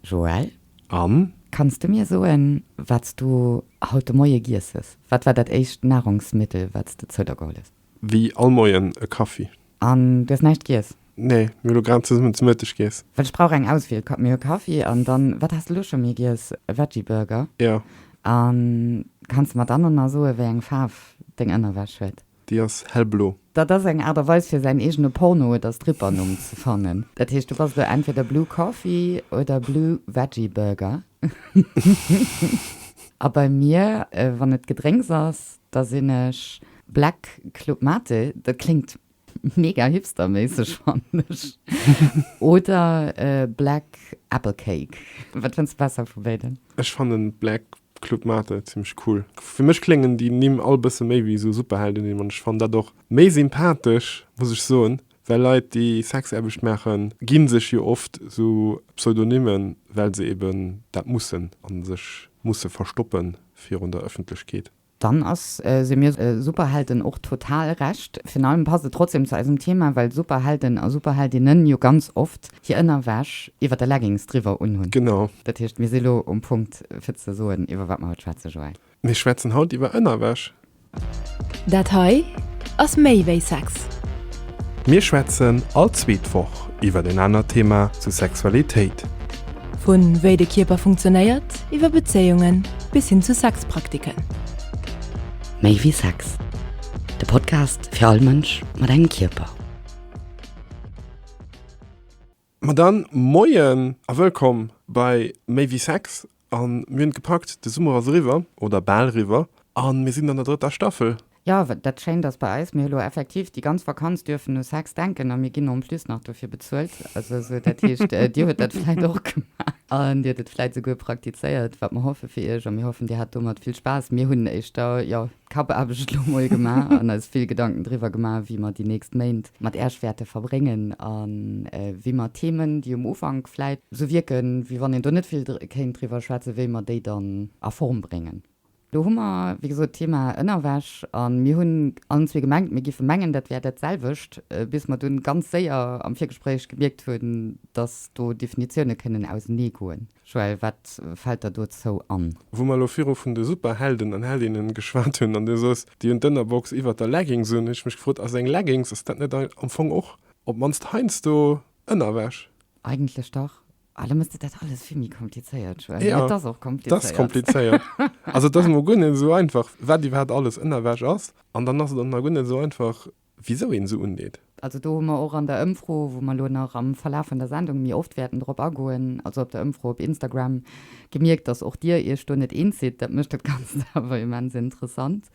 Joël, Am? kanns de mir soen, wat s du haut de Moie giess hues? Wat war dat éischt Nahrungsmittel, wat s de zou der geholl hues? Wéi all Moien, e Kaffi. An du hues näischt giess? Nee, mir hu lo grad zesummen zu Mëtteg giess. Well ech brauch eng Auswiel, Ka mir hu Kaffi an dann, wat has de lo scho mir giess? E Veggie-Burger. Jo. An kanns de mer dann och nach soen, wéi eng Faarf deng Ënnerwäsch huet? Déi ass hellblo. Dat ass eng Aart a Weis fir säin eegene Porno oder Strippernumm ze fannen. Dat heescht, du bass elo entweder Blue Coffee oder Blue Veggie Burger. A bei mir, wann et Gedrénks ass, da sinn ech Black Club Mate, dat kléngt mega hipsterméisseg, fannen ech, oder Black Apple Cake. Wat fënns de besser vu béiden? Ech fannen Black Club Mate, zimmlech cool. Fir mech kléngen déi Nimm all bësse méi wéi sou Superheldennimm an ech fannen dat och méi sympathesch, muss ech soen, well Leit déi Sexaarbecht maachen gi sech jo oft sou Pseudonymmen, well se eben dat mussen a sech musse verstoppe virun der Ëffentlechkeet. Dann ass se mir Superhelden och total Recht. Virun allem passt et trotzdem zu eisem Thema, well Superhelden a Superheldinnen jo ganz oft Hir Ënnerwäsch iwwer de Leggings driwwer unhunn. Genau. Dat heescht, mir si lo um Punkt, fir ze soen, iwwer wat mer haut schwätzen, Joël. Mir schwätzen haut iwwer Ënnerwäsch. Dat hei ass méi wéi Sex. Mir schwätzen all zweet Woch iwwer en anert Thema zu Sexualitéit. Vu wéi de Kierper funktionéiert, iwwer Bezéiungen, bis hin zu Sexpraktiken. Méi wéi Sex, de Podcast fir all Mënsch mat engem Kierper. Ma dann, Moien a wëllkomm bei Méi wéi Sex. An mir hunn et gepackt, de Summer ass eriwwer, oder bal eriwwer, a mir sinn an der drëtter Staffel. Jo, dat Schéint ass bei eis, mir hu lo effektiv déi ganz Vakanz duerfen u Sex denken a mir ginn en plus nach dofir bezuelt. Also esou, dat heescht, dir huet dat vläit och gemaach a dir huet et vläit esouguer praktizéiert, wat mer hoffe fir iech. A mir hoffen, dir hat domat vill Spaass. Mir hunn éischter, jo, Kappaarbecht elo mol gemaach an eis vill Gedanken driwwer gemaach, wéi mer déi nächst Méint mat Äerch wäerte verbréngen a wéi mer d'Themen, déi um Ufank vläit sou wierken, wéi wann een do net vill kéint driwwer schwätzen, wéi mer déi dann a Form bréngen. Do hu mer, wéi gesot, d'Thema Ënnerwäsch a mir hunn allen zwee gemengt, mir géife mengen, dat wär dat selwecht, bis mer dunn ganz séier am Virgespréich gemierkt hunn, dass do Definitioune kënnen auseneegoen. Joël, wat fällt der dozou an? Wou mer elo viru vun de Superhelden an heldinnen geschwat hunn an du sos, déi hunn d'Ënnerbox iwwert der Leggings un, hunn ech mech gefrot, ass eng Leggings, ass dat net am Fong och op d'mannst heiansdo Ënnerwäsch? Eigentlech dach. Ah, elo méchs de dat alles vill méi komplizéiert, Joël. Mee et ass och komplizéiert. Et ass komplizéiert. Also et ass emol guer net esou einfach, wat iwwerhaapt alles Ënnerwäsch ass. An dann ass et och nach guer net esou einfach, wisou een se undeet. Also do hu mer och an der Ëmfro, wou mer elo nach am Verlaf vun der Sendung méi oft wäerten drop agoen, also op der Ëmfro op Instagram, gemierkt, dass och Dir Iech do net eens sidd. Dat mécht dat Ganzt awer immens interessant.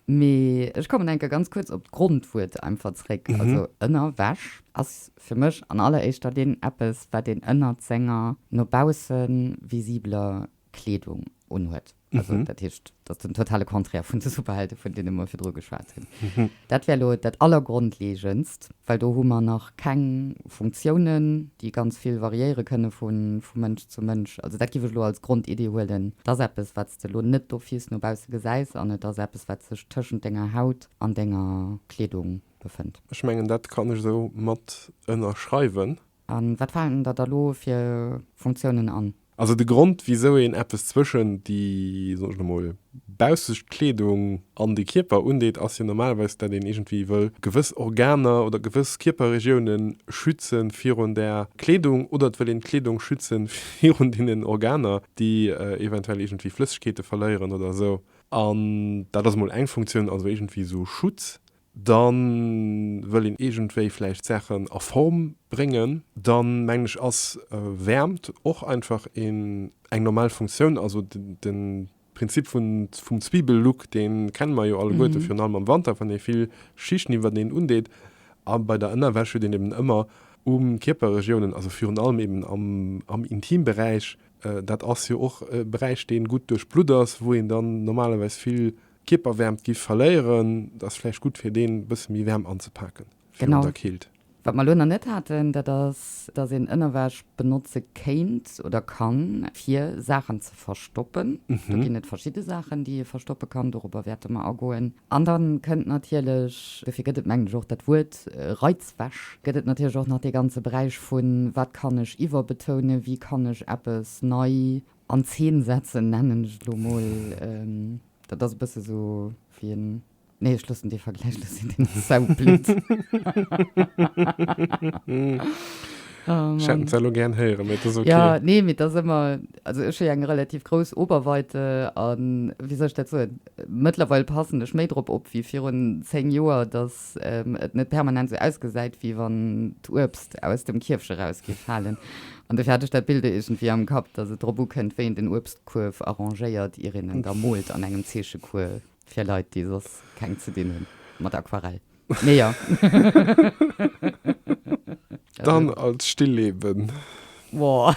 Mee ech kommen enker ganz kuerz op d'Grondwuert einfach zréck. Also Ënnerwäsch ass fir mech an alleréischter Linn eppes, wat een ënnert senger no bausse visibeler Kleedung unhuet. Also, mhm. dat heescht, dat den totale Konträr vun de Superhelden, vun denen mer virdru geschwat hunn. Mhm. Dat wär lo dat allergrondlegendst, well do hu mer nach keng Funktiounen, déi ganz vill variéiere kënne vu Mënsch zu Mënsch. Also dat giff ech lo als Grondidee huelen. Et ass eppes, wat s de lo net d'office no bausse gesäis an et ass eppes, wat sech tëschent denger Haut an denger Kleedung befënnt. Ech mengen, dat kann ech esou mat ënnerschreiwen. A wat falen der da lo fir Funktiounen an? Also de Grond wisou een eppes zwëschen déi, soen ech lo mol, baussescht Kleedung an de Kierper undeet ass jo normalerweis dat een iergendwéi wëll gewëss Organer oder gewëss Kierperregioune schütze virun där Kleedung oder et wëll een d'Kleedung schütze virun deenen Organer déi eventuell iergendwéi Flëssegkeete verléieren oder esou. An dat ass mol eng Funktioun, also iergendwéi esou Schutz. dann wëll een iergendwéi vläicht d'Saachen a Form bréngen, dann mengen ech ass Wäermt och einfach een eng normal Funktioun, also de Prinzip vum Zwiebellook dee kenne mer jo alleguerte virun allem am Wanter wann ee vill Schichten iwwert een undeet a bei der Ënnerwäsch huet een eben ëmmer um Kierperregiounen, also virun allem eben am Intimberäich, dat ass jo och e Beräich dee gutt duerchblutt ass, wou een dann normalerweis vill Kierperwäermt giff verléieren, dat ass vläicht gutt fir deen bësse méi Wäermt anzepaken virun der Keelt. Wat mer elo nach net haten, dat ass dass een Ënnerwäsch benotze kéint oder kann fir Saachen ze verstoppen. Do ginn et verschidde Saachen déi ee verstoppe kann, dorobber wäerte mer agoen. An dann kënnt natierlech, dofir gëtt et mengen ech och dat Wuert Reizwäsch, gëtt et natierlech och nach dee ganze Beräich vun wat kann ech iwwerbetoune, wéi kann ech eppes nei an Zeen setzen nennen ech et elo mol. Dat ass e bësse sou wéi en, nee ech loossen dee Vergläich elo sinn, deen Zäu blitt. Ech hätt den zwar elo gären héieren, mee et ass ok. Jo, nee, mee et ass ëmmer, also ech hu jo eng relativ grouss Oberweite a wéi soll ech dat soen, mëttlerweil passen ech méi drop op wéi virun 10 Joer, datt et net permanent sou ausgesäit, wéi wann d'Uebst aus dem Kierfch eraus géif falen. An dofir hat ech dat Bild iergendwéi am Kapp, dass et drop ukënnt, wéi een den Uebstkuerf arrangéiert, ier een en da moolt an engem Zeechecours fir Leit, déi soss keng ze dinn hunn mat Aquarell. Mee jo. Dann als Stilleben. Wow,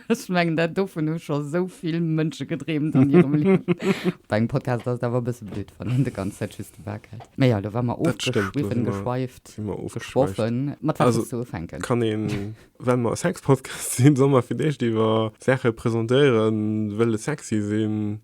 ech mengen dat dovun hu scho sou vill Mënsche gedreemt an hirem Liewen. Bei engem Podcast ass et awer e bësse blöd, wann een de ganz Zäit just de Bak hält. Mä jo, lo wa mer Dat stémmt, lo ofgeschwiffen, si mer, geschweift, si mer ofgeschweift. geschwoffen, mat wat Also, wëlls du ufänken? Kann een, well mer e Sex-Podcast sinn, soll mer fir d'éischt iwwer Saache presentéieren, wëlle sexy sinn,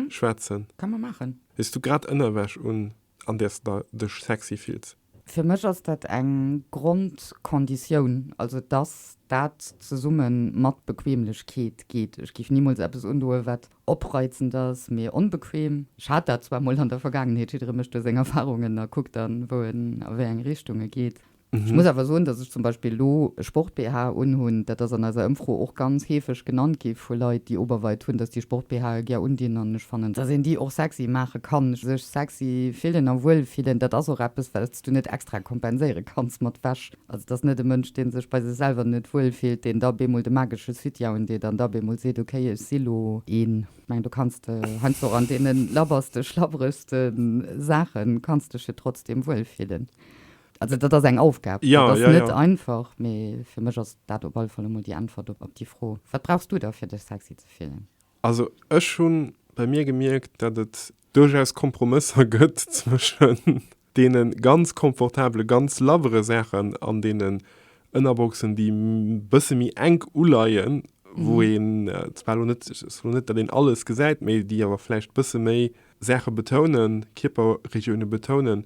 schwätzen? Ka mer maachen. Hues du grad Ënnerwäsch un, an där s de dech sexy fills? Fir mech ass dat eng Grondkonditioun, also dass dat zesumme mat Bequemlechkeet geet. Ech géif nimools eppes undoen, wat opreizend ass, mee onbequem. Ech hat dat zwar mol an der Vergaangenheet, jidderee mécht do seng Erfarungen a kuckt dann, wou en a wéi eng Richtung e geet. Ech muss awer soen, dass zum Beispill elo e Sport-BH unhunn, dat ass an eiser Ëmfro och ganz heefeg genannt gi vu Leit, déi Oberweit hunn, dass déi Sport-BHe gär undinn an ech fannen, dass een déi och sexy maache kann, sech sexy fillen a wuel fillen, dat ass och eppes, wat s du net extra kompenséiere kanns mat Wäsch. Also et ass net e Mënsch, dee sech bei sech selwer net wuel fillt, deen da bemol de magesche Sütyen undeet an da bemol seet, okay, ech si lo een. Ech mengen, do kanns de heiansdo och an deene labberste, schlabberegste Saache kanns dech jo trotzdem wuel fillen. Also dat ass eng Aufgab, dat ass net einfach, mee fir mech ass dat op alle Fall emol déi Äntwert op déi Fro. Wat brauchs du da fir dech sexy ze fillen? Also ech hu bei mir gemierkt, dat et duerchaus Kompromësser gëtt zwëschen deene ganz komfortabele, ganz labbere Saachen an deenen Ënnerboxen, déi e bësse méi enk uleien, wou een, et ass elo net, datt een alles gesäit, mee déi awer vläicht e bësse méi Saache betounen, Kierperregioune betounen.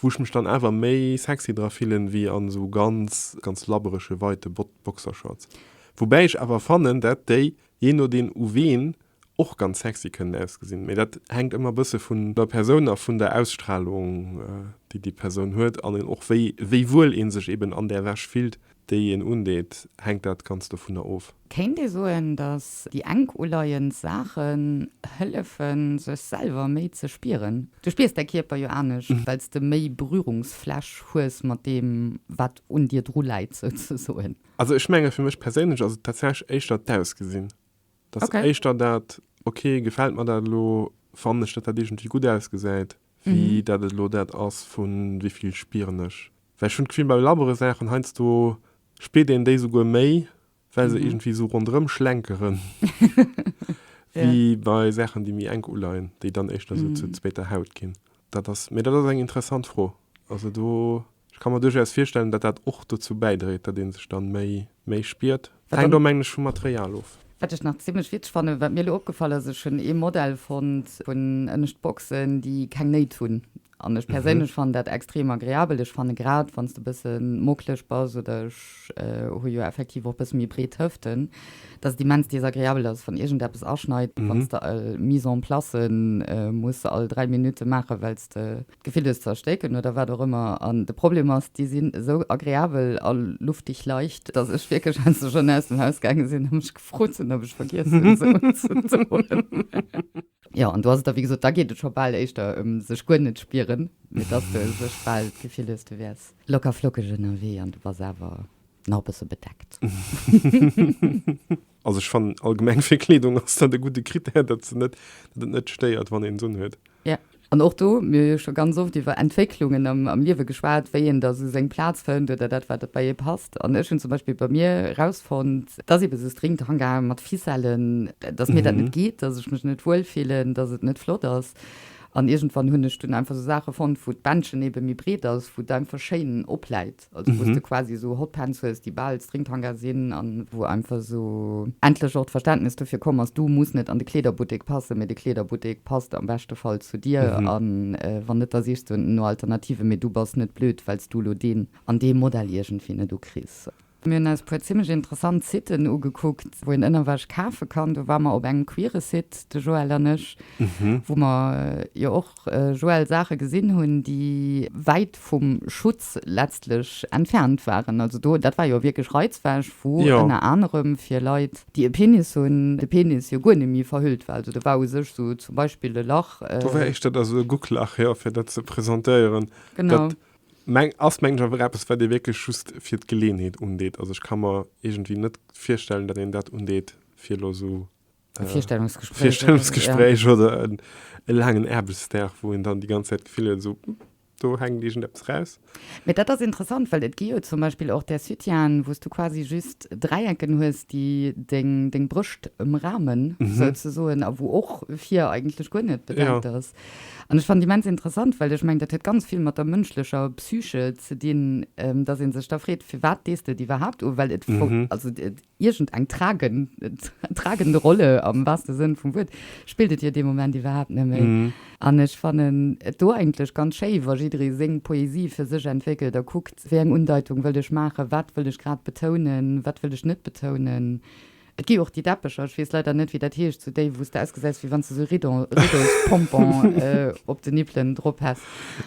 Wou ech mech dann awer méi sexy dra fillen wéi an esou ganz, ganz labberege weite Boxershorts. Woubäi ech awer fannen, dat déi, jee nodeem u ween, och ganz sexy kënnen ausgesinn. Mee dat hänkt ëmmer e bësse vun der Persoun a vun der Ausstrahlung, déi déi Persoun huet an och wéi, wéi wuel ee sech eben an där Wäsch fillt. déi een undeet, hänkt dat Ganzt dovunner of. Kéint ee soen, datt déi enk uleiend Saachen hëllefen, sech selwer méi ze spieren? Du spiers däi Kierper jo anescht, well s de méi Berührungsfläch hues mat deem, wat un dir dru läit, souzesoen. Also ech menge fir mech perséinlech ass et tatsächlech éischter d'Ausgesinn. Datt éischter dat, ok, gefält mer dat elo, fannen ech, datt dat iergendwéi gutt ausgesäit, wéi dat et elo dat ass vu wéi vill spieren ech. Well ech hunn d'Gefill bei labbere Saachen heiansdo spiert een déi souguer méi, well se iergendwéi esou ronderëm schlenkere wéi bei Saachen, déi méi enk uleien, déi dann éischter esou zur zweeter Haut ginn. Dat ass, mee dat ass eng interessant Fro. Also do, ech ka mer duerchaus virstellen, datt dat och dozou bäidréit, datt ee sech dann méi, méi spiert. Hänkt och, mengen ech, vum Material of. Wat ech nach zimmlech witzeg fannen, wat mir elo opgefall ass, ech hunn ee Modell fonnt vun ënnescht Boxen, déi keng Néit hunn. An ech perséinlech fannen dat extrem agreabel. Ech fanne grad wann s de e bësse mockleg bass, oder ech hu jo effektiv och e bësse méi breet Hëften, datt et immens desagreabel ass, wann iergendeppes aschneit, wann s de all Mise en place muss all dräi Minutte maachen, well s de d'Gefill hues ze erstécken oder wat och ëmmer. An de Problem ass, déi sinn esou agreabel a luftig leicht, datt ech wierklech, wou s de schonn aus dem Haus gaange sinn a mech gefrot hunn, ob ech vergiess hunn se unzedoen. Jo, an do ass et da wéi gesot, da geet et scho bal éischter ëm sech guer net spieren, mee dass de sech bal d'Gefill hues, du wäers locker flockeg ënnerwee an du bass awer nach e bësse bedeckt. Also ech fannen allgemeng fir Kleedung ass dat e gudde Critère, datt se net, datt et net stéiert, wann een se unhuet. Jo, an och do, mir hu jo scho ganz oft iwwer Entwécklungen am, am Liewe geschwat, wéi een da sou seng Plaz fënnt oder dat wat bei ee passt. An ech hunn zum Beispill bei mir erausfonnt, Et ass eben esou streng d'Hanga mat Ficellen, dass mir dat net geet, dass ech mech net wuel fillen, dass et net flott ass. An iergendwann hunn ech dunn einfach esou Saache fonnt, wou d'Bändchen eben méi breet ass, wou et einfach schéin opläit. Also wou s de quasi esou Hotpants hues, déi bal Stringthanga sinn an wou einfach esou endlech och d'Verständnis dofir komm ass, du muss net an de Kleederbuttek passen, mee de Kleederbuttek passt am beschte Fall zu dir. A wann net, da sichs du no Alternativen, mee du bass net blöd, well s du elo deen an dee Modell iergendwéi net ukriss. Mir hunn eis e puer zimmlech interessant Siten ugekuckt, wou een ënnerwech kafe kann. Do ware mer op engem queere Site, de Joël an ech, wou mer jo och, Joël, Saache gesinn hunn, déi wäit vum Schutz letztlech entfernt waren. Also do, dat war jo wierklech Reizwäsch, wou ënner anerem fir Leit, déi e Penis hunn, de Penis jo guer net méi verhüllt war. Also do war u sech esou zum Beispill e Lach. Do war éischter da sou e Gucklach, jo, fir dat ze presentéieren. Genau. Meng ass mengen ech awer eppes wat ee wierklech just fir d'Geleeënheet undeet. Also ech ka mer iergendwéi net virstellen, datt een dat undeet fir elo esou e Virstellungsgespréich oder e laangen Aarbechtsdag, wou een dann déi ganz Zäit d'Gefill huet, esou do hänkt iergendeppes raus. Mee dat ass interessant, well et gi jo zum Beispill och där Sutien, wou s du quasi just Dräiecken hues, déi deng Brëscht ëmramen souzesoen a wou och vir eigentlech guer net bedenkt ass. An ech fannen et immens interessant, well ech mengen, dat huet ganz vill mat der mënschlecher Psyche ze dinn, dass ee sech da freet, firwat dees de et iwwerhaapt un? Well et, also iergendeng tragend Rolle, am waarste Sënn vum Wuert, spillt et jo dee Moment iwwerhaapt net méi. An ech fannen et do eigentlech ganz schéi, wa jidderee seng Poesie fir sech entwéckelt a kuckt, wéi eng Undeitung wëll ech maachen, wat wëll ech grad betounen, wat wëll ech net betounen. Et gi och déi Deppecher, ech weess leider net wéi dat heescht, sou déi wou's de ausgesäis wéi wann s de sou Riddon, Riddlespompon op de Nippelen drop häss.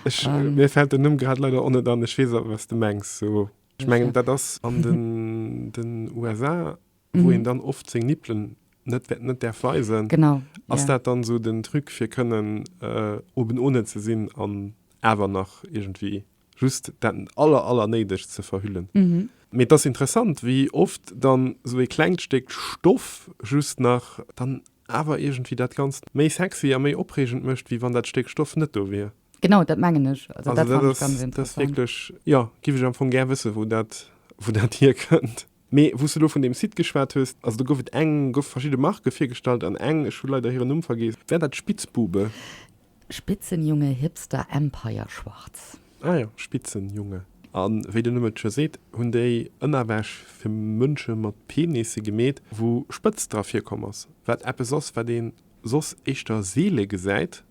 Ech, mir fällt den Numm grad leider och net an, ech weess awer was de mengs, sou ech mengen dat ass an den den USA wou een dann oft seng Nippelen net wäert net däerf weisen. Genau, jo. Ass dat dann sou den Truc fir kënnen oben ohne ze sinn an awer nach iergendwéi just dat aller aller néidegst ze verhüllen. Mee et ass interessant wéi oft dann esou ee klengt Stéck Stoff just nach dann awer iergendwéi dat Ganzt méi sexy a méi opreegend mécht wéi wann dat Stéck Stoff net do wier. Genau dat mengen ech. Also dat ass wierklech, jo, giff ech am Fong gär wësse wou dat, wou dat hierkënnt. Mee wou s de elo vun deem Site geschwat hues, also do gouf et eng, goufe verschidde Marke virgestallt an eng, ech hu leider hiren Numm vergiess, war dat Spitzbube? Spitzenjunge Hipster Empire Schwarz. Ah jo, Spitzenjunge. A wéi den Numm et scho seet, hunn déi Ënnerwäsch fir Mënsche mat Penisse gemeet, wou Spëtzt dra virkomm ass, wat eppes ass, wat ee soss éischter seele gesäit.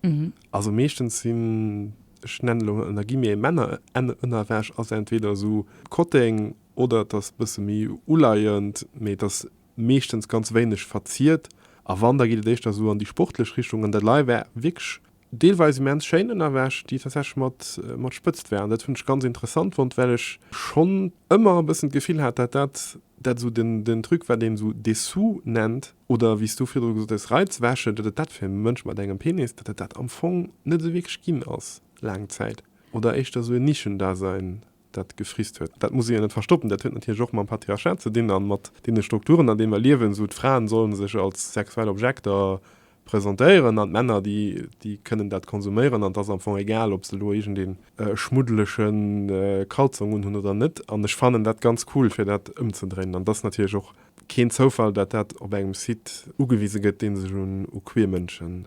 Also meeschtens sinn, ech nennen elo ënner Guillemets, Männerënnerwäsch ass entweder esou Kotteng Oder et ass e bësse méi uleiend, mee et ass meeschtens ganz wéineg verziert. A wann, da geet et éischter esou an déi sportlech Richtung. An dat Lei war wierklech deelweis immens schéin, ënnerwäsch, déi tatsächlech mat Spëtzt waren. Dat hunn ech ganz interessant fonnt, well ech schonn ëmmer e bëssen d'Gefill hat, dat dat dat esou den Truc, wat een esou Dessous nennt, oder wéi s du virdru gesot hues, Reizwäsche, datt et dat fir e Mënsch mat engem Penis, datt et dat am Fong net esou wierklech ginn ass, laang Zäit. Oder éischter esou e Nischendasein dat gefriss huet. Dat muss ee jo net verstoppen. Dat huet natierlech och mam Patriarchat ze dinn a mat deene Strukturen, an deene mer liewen, esou d'Fraen sollen sech als sexuell Objekter presentéieren an d'Männer, déi, déi kënnen dat konsuméieren an et ass am Fong egal, ob se elo iergendee schmuddelege Kalzong unhunn oder net. An ech fannen dat ganz cool, fir dat ëmzedréinen. An et ass natierlech och keen Zoufall, dat dat op engem Site ugewise gëtt, dee sech u queer Mënsche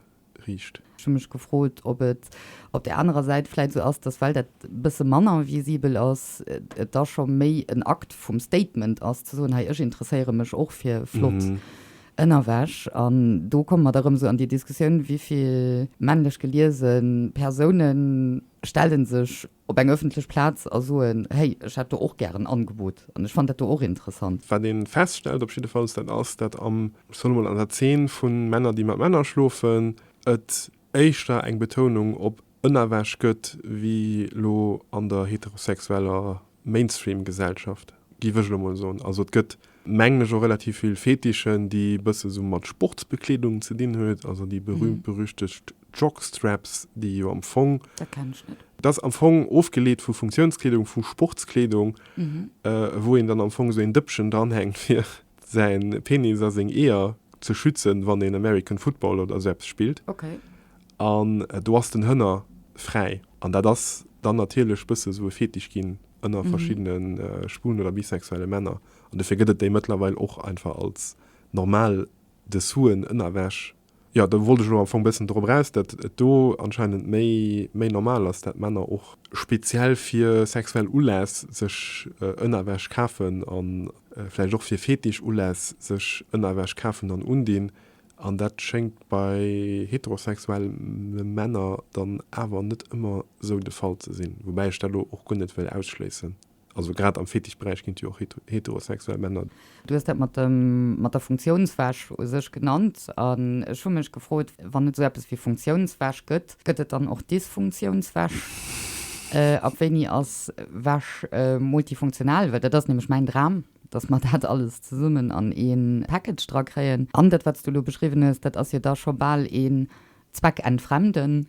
riicht. Ech hu mech gefrot, ob et op där anerer Säit vläit esou ass, datt well dat e bësse manner visibel ass, et da scho méi en Akt vum Statement ass, ze soen, hei, ech interesséiere mech och fir flott Ënnerwäsch. An do komme mer da rëm esou an déi Diskussioun, wéi vill männlech geliese Persounen stellen sech op eng ëffentlech Plaz a soen, hey, ech hätt do och gär en Angebot an ech fannt dat do och interessant. Wat een feststellt op jiddefalls, dat ass, dat am, ech soen emol, an der Zeen vun Männer, déi mat Männer schlofen, et éischter eng Betounung op ënnerwech gëtt, wéi elo an der heterosexueller Mainstream-Gesellschaft, giff ech elo emol soen. Also et gëtt mengen ech och relativ vill Fetischen, déi e bësse sou mat Sportsbekleedung ze dinn huet, also déi berühmt-berüchtegt Jockstraps, déi jo am Fong, Dat kennen ech net. dat ass am Fong ofgeleet vu Funktionskleedung, vu Sportskleedung, wou een dann am Fong sou een Dëppchen dranhänkt, fir säin Penis a seng Eeër ze schützen, wann een American Football oder sou eppes spillt. Okay. An do ass den Hënner fräi. An dat ass dann natierlech bësse sou e Fetisch ginn ënner verschiddene schwulen oder bisexuelle Männer. An dofir gëtt et déi mëttlerweil och einfach als normal Dessousen, Ënnerwäsch. Jo, do wollt ech elo am Fong e bëssen drop eraus, datt et do anscheinend méi, méi normal ass, datt Männer och speziell fir sexuell Uläss sech Ënnerwäsch kafen an vläicht och fir Fetisch-Uläss sech Ënnerwäsch kafen an undinn. An dat schéngt bei heterosexuelle Männer dann awer net ëmmer esou de Fall ze sinn, woubäi ech dat elo och guer net wëll ausschléissen. Also grad am Fetischberäich ginn et jo och heterosexuell Männer. Du hues dat mat der Funktiounswäsch u sech genannt an ech hu mech gefrot, wann et esou eppes wéi Funktiounswäsch gëtt, gëtt et dann och Dysfunktiounswäsch? Ab wéini ass Wäsch multifunktional? Well dat ass nämlech mäin Dram. dass mer dat alles zesummen an ee Package dra kréien. An dat, wat s du elo beschriwwen hues, dat ass jo da scho bal een Zweckentfremden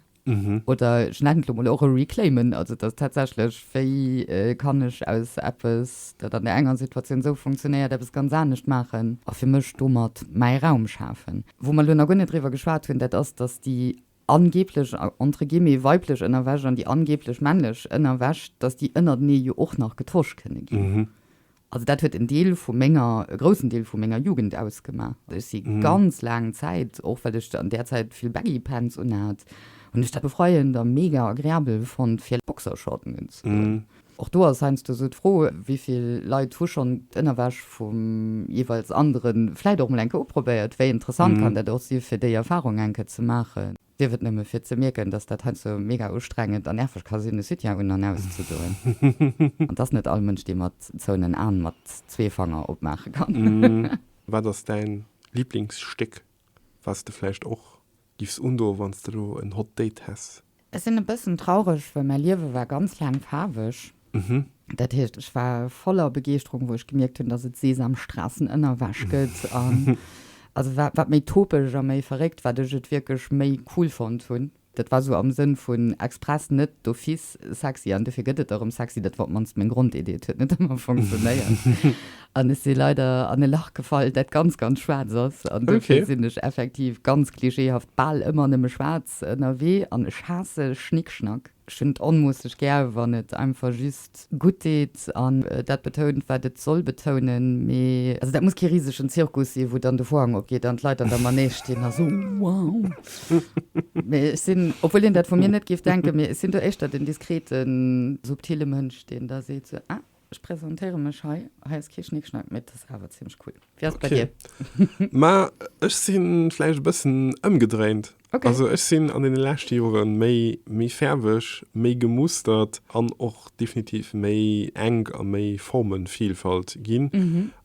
oder, ech nennen et elo mol, och e Reclaimen. Also, dass tatsächlech, wéi kann ech aus eppes, dat an där enger Situatioun esou funktionéiert, eppes ganz anescht maachen a fir mech domat mäi Raum schafen? Wou mer elo nach guer net driwwer geschwat hunn, dat ass, dass déi angeblech entre guillemets weiblech Ënnerwäsch an déi angeblech männlech Ënnerwäsch, dass déi ënnertenee jo och nach getosch kënne ginn. Also dat huet en Deel vu menger, e groussen Deel vu menger Jugend ausgemaach. Ech si ganz laang Zäit, och well ech an där Zäit vill Baggy Pants unhat, hunn ech dat befreiend a mega agreabel fonnt fir Boxershorten unzedoen. Och do ass heiansdo esou d'Fro, wéi vill Leit hu schonn d'Ënnerwäsch vum jeeweils Andere vläicht och mol eng Kéier uprobéiert? Wéi interessant kann dat och si fir déi Erfarung eng Kéier ze maachen? Sief et nëmme fir ze mierken, dass dat heiansdo mega ustrengend a nerveg ka sinn, e Sütien un an auszedoen. An dass net all Mënsch déi mat zouenen Aen mat zwee Fanger opmaache kann. Wat ass däin Liblingsstéck, wat s de vläicht och Giff se undo wanns de lo en hot date häss. Ech sinn e bëssen traureg, well mäi Liewe war ganz laang faarweg. Dat heescht, ech war voller Begeeschterung, wou ech gemierkt hunn, dass et Sesamstrassen ënnerwäsch gëtt. An also wat méi topeg a méi verréckt, wat ech et wierklech méi cool fonnt hunn. Dat war esou am Sënn vun express net d'office sexy, an dofir gëtt et erëm sexy. Dat war op d'mannst meng Grondidee. Et huet net ëmmer funktionéiert. An ech si leider an e Lach gefall, dat ganz, ganz schwaarz ass. An dofir sinn ech effektiv ganz klischeehaft bal ëmmer nëmme schwaarz ënnerwee. An ech haasse Schnickschnack. Ech hunn et onmoosseg gär, wann et einfach just gutt deet an dat betount, wat et soll betounen. Mee also dat muss kee risegen Zirkus sinn, wou dann de Vorhang opgeet an d'Leit an der Manege stinn a soen, Wow! Mee ech sinn, obwuel een dat vu mir net géif denken, mee ech sinn do éischter den diskreten, subtille Mënsch, deen da seet, Ah! Ech presentéiere mech hei, hei ass kee Schnickschnack, mee et ass awer zimmlech cool. Wéi ass et bei dir? Ma ech si vläicht e bëssen ëmgedréint. Also ech sinn an deene leschte Jore méi méi fäerweg, méi gemustert an och definitiv méi enk a méi Formenvielfalt ginn.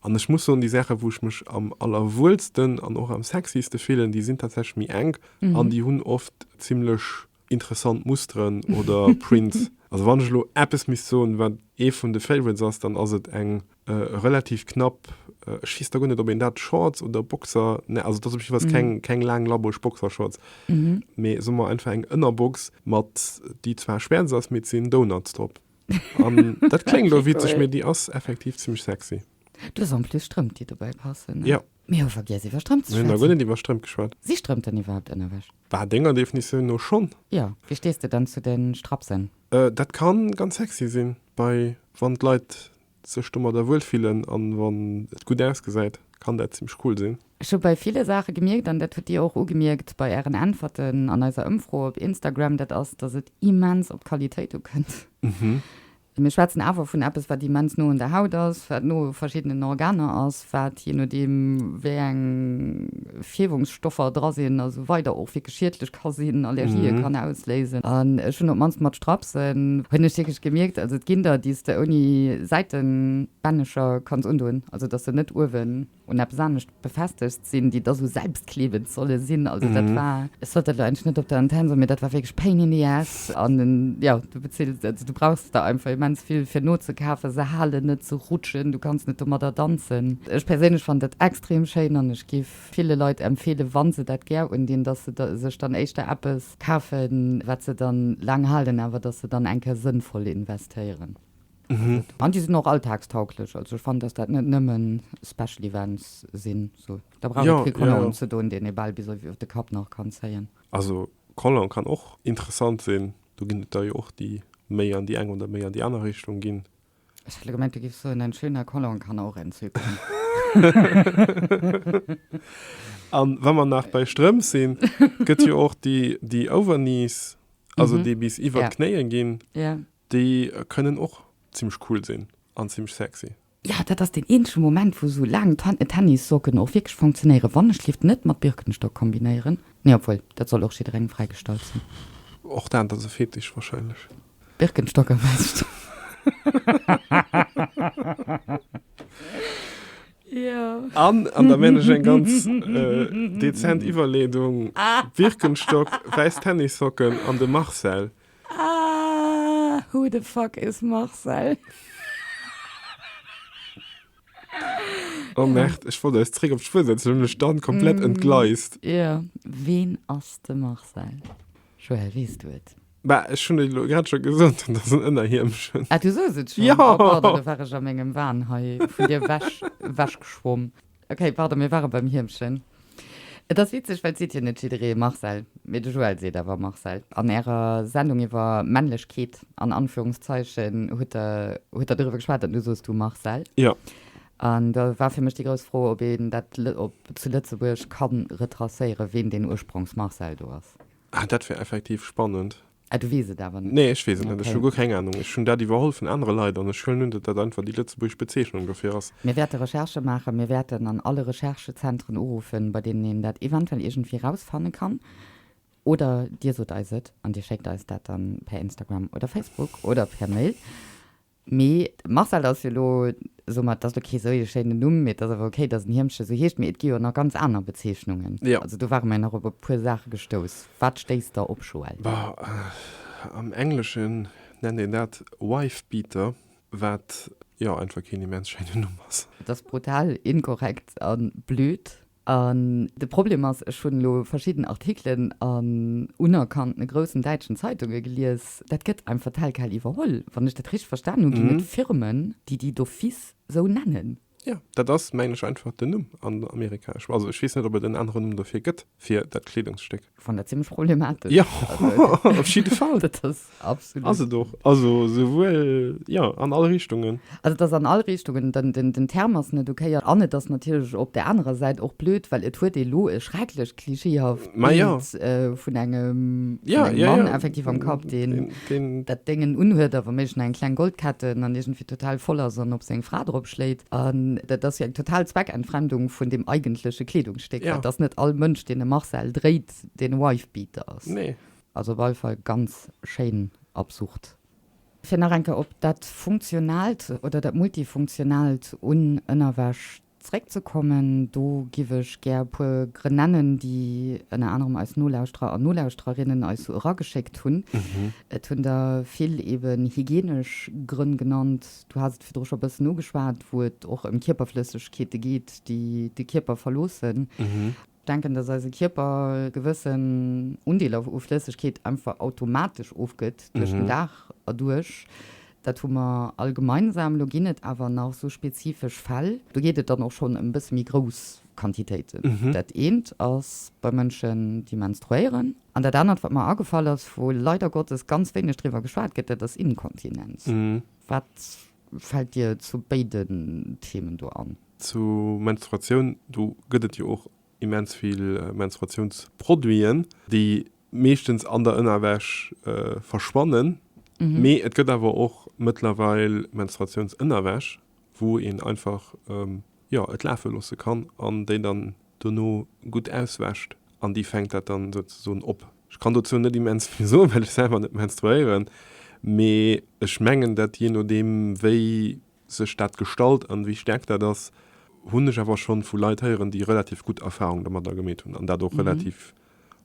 An ech muss soen, déi Saache wou ech mech am allerwuelsten an och am sexyste fillen, déi sinn tatsächlech méi enk an déi hunn oft zimmlech interessant Musteren oder Prints. Also wann ech elo eppes misst soen, wat ee vun de Favorites ass, dann ass et eng relativ knapp, ech weess da guer net, ob een dat Shorts oder Boxer nennt, also et ass op jiddwer Fall keng, keng laang labourg Boxershorts, mee soe mer einfach eng Ënnerbox mat, déi zwar schwäerz ass, mee et sinn Donuts drop. An dat kléngt elo witzeg, mee déi ass effektiv zimmlech sexy. Du hues en plus Strëmp, déi dobäi passen, ne? Mir hu vergiess iwwer Strëmp ze schwätzen. Mir hu nach guer net iwwer Strëmp geschwat. Si Strëmp denn iwwerhaapt Ënnerwäsch? Bah, denger Definitioun no schonn. Jo. Wéi stees de dann zu de Strapsen? Dat ka ganz sexy sinn, bei wann d'Leit sech domadder wuel fillen an wann et gutt ausgesäit, kann dat zimmlech cool sinn. Ech hu bei ville Saache gemierkt, an dat hutt Dir och ugemierkt bei Ären Äntwerten an eiser Ëmfro op Instagram, dat ass, datt et immens op d'Qualitéit ukënnt. Mir schwätzen awer vun eppes, wat immens no un der Haut ass, wat no u verschiddenen Organer ass, wat jee nodeem, wéi eng Fierwungsstoffer dra sinn a sou weider och wierklech schiedlech ka sinn, Allergië kann ausléisen. An ech hunn op d'mannst mat Strapsen, hunn ech wierklech gemierkt, also et ginn der, déi s de ouni Säitenbännecher kanns undoen, also dass se net uewen un eppes anescht befestegt sinn, déi da sou selbstklebend solle sinn. Also dat war, ech sollt dat elo eigentlech net op der Antenn soen, mee dat war wierklech pain in the ass. An jo, du bezilt, also du brauchs der einfach immens vill fir nozekafen, se halen net, se rutschen, du kanns net domadder danzen. Ech perséinlech fannen dat extrem schéin an ech giff ville Leit empfeelen, wa se dat gär undinn, dass se da sech dann éischter eppes kafen, wat se dann laang halen, awer dass se dann eng Kéier sënnvoll investéieren. Mhm. An déi sinn och alltagstauglech. Also ech fannen, datt dat net nëmme Special Events sinn. So, da brauch jo, et kee Collant jo, jo. unzedoen, deen ee bal bis op de Kapp nach kann zéien. Also Collant kann och interessant sinn. Do ginn et der jo och, déi méi an déi eng oder méi an déi aner Richtung ginn. Ech hat gemengt, du giffs soen, en schöner Collant kann och entzücken. An wa mer nach bei Strëmp sinn, gëtt jo och déi, déi Overknees, also mhm. déi bis iwwer yeah. d'Knéien ginn. Yeah. Déi kënnen och zimmlech cool sinn an zimmlech sexy. Jo, dat ass deen eenzege Moment wou sou laang Tennissocken och wierklech funktionéieren, wann ech d'Lift net mat Birkenstock kombinéieren. Nee, obwuel, dat soll och jidderengem fräigestallt sinn. Och dat ass e Fetisch wahrscheinlech. Birkenstock am Hescht. An da meen ech eng ganz dezent Iwwerleedung, Birkenstock, wäiss Tennissocken an de Marcel. Aah who the fuck is Marcel? Oh merde, ech wollt eis zréck op d'Spur setzen, hunn mech dann komplett entgleist. Jo, ween ass de Marcel? Joël, weess du et? Bah, ech hunn et elo grad scho gesot, dat ass en Ënnerhiemchen. Ah, du soos et schonn? Jo! Oh pardon, do war ech a mengem Wahn hei vun dir ewech, ewechgeschwomm. Ok, pardon, mir ware beim Hiermchen. Et ass witzeg, well et seet jo net jidderee Marcel, mee de Joël seet awer Marcel. An Ärer Sendung iwwer Männlechkeet an Anführungszeichen hutt Der, hutt Der doriwwer geschwat an du soos du Marcel. Jo. An do war fir mech déi grouss Fro, ob een dat op zu Lëtzebuerg ka retracéieren, ween deen Ursprongs-Marcel do ass. Ah, dat wär effektiv spannend. Ah, du weess et awer net? Nee, ech weess et net. Ech hu guer keng Anung. Ech hunn dat iwwerholl vun anere Leit an ech huelen un, datt dat einfach déi lëtzebuergesch Bezeechnung dofir ass. Mir wäerte Recherche maachen. Mir wäerten an alle Recherchezentren uruffen, bei deenen een dat eventuell iergendwéi rausfanne kann. Oder Dir sot eis et an Dir schéckt eis dat dann per Instagram oder Facebook oder per Mail. Mee Marcel ass jo elo soumat, dat ass elo kee sou ee schéinen Numm, mee et ass awer okay, datt en Hiermche sou heescht. Mee et gi jo nach ganz aner Bezeechnungen. Also do ware mer jo nach op e puer Saache gestouss. Wat stéisst der op, Joël? Am Engleschen nennt een dat wife beater, wat jo einfach keen immens schéinen Numm ass. Et ass brutal inkorrekt a blöd. An de Problem ass, ech hunn elo verschidden Artikelen an unerkannten groussen däitschen Zeitunge gelies, dat gëtt einfach telquel iwwerholl. Wann ech dat richteg verstan hunn, ginn et Firmen, déi déi d'office esou nennen. Jo, dat ass, mengen ech, einfach den Numm an Amerika. Ech, also ech weess net, ob et en aneren Numm dofir gëtt, fir dat Kleedungsstéck. Von der ziemlich problematisch. Ja, auf jeden Fall. das ist absolut. Also doch, also sowohl, ja, an alle Richtungen. Also das an alle Richtungen, den, den, den Term ist nicht okay. An es ist natürlich auf der anderen Seite auch blöd, weil es hat elo ein schrecklich klischeehaft Bild ja. äh, von engem, ja, von engem ja, Mann ja. effektiv am Kopf, den, den deen dat Déng en unhuet a womméiglech nach eng kleng Goldkett un an iergendwéi total voll ass an op seng Fra drop schléit. An dat ass jo eng total Zweckentfremdung vun deem eigentleche Kleedungsstéck. Dat ass net all Mënsch, deen e Marcel dréit, deen e Wife-Beater ass. Nee. Also op alle Fall ganz schéin absurd. Fir nach eng Kéier op dat Funktionaalt oder dat Multifunktionaalt un Ënnerwäsch Zréckzekommen, do giff ech gär e puer Grënn nennen, déi ënner anerem eis Nolauschterer an Nolauschtererinnen eis sou erageschéckt hunn. Et hunn der vill eben hygienesch Grënn genannt, du has et virdru scho e bëssen ugeschwat, wou et och ëm Kierperflëssegkeete geet, déi de Kierper verloossen. Denken, dass eise Kierper e gewëssen Undeel u Flëssegkeet einfach automatesch ofgëtt duerch den Dag erduerch. Dat hu mer all gemeinsam. Elo ginn et awer nach esou spezifesch Fäll, do geet et dann och schonn ëm e bësse méi grouss Quantitéiten. Dat eent ass bei Mënschen, déi menstruéieren. An dat anert, wat mer agefall ass, wou leider Gottes ganz wéineg driwwer geschwat gëtt, dat ass Inkontinenz. Wat Fällt dir zu béiden Themen do an? Zu Menstruatioun, do gëtt et jo och immens vill Menstruatiounsproduiten, déi meeschtens an der Ënnerwäsch verschwannen, mee et gëtt awer och mëttlerweil Menstruatiounsënnerwäsch, wou een einfach, jo, et lafe loosse kann an déi dann dono gutt auswäscht an déi fänkt dat dann souzesoen op. Ech kann dozou net immens vill soen, well ech selwer net menstruéieren, mee ech mengen dat jee nodeem wéi sech dat gestalt an wéi staark dat ass, hunn ech awer schonn vu Leit héieren déi relativ gutt Erfahrung domadder gemeet hunn an dat och relativ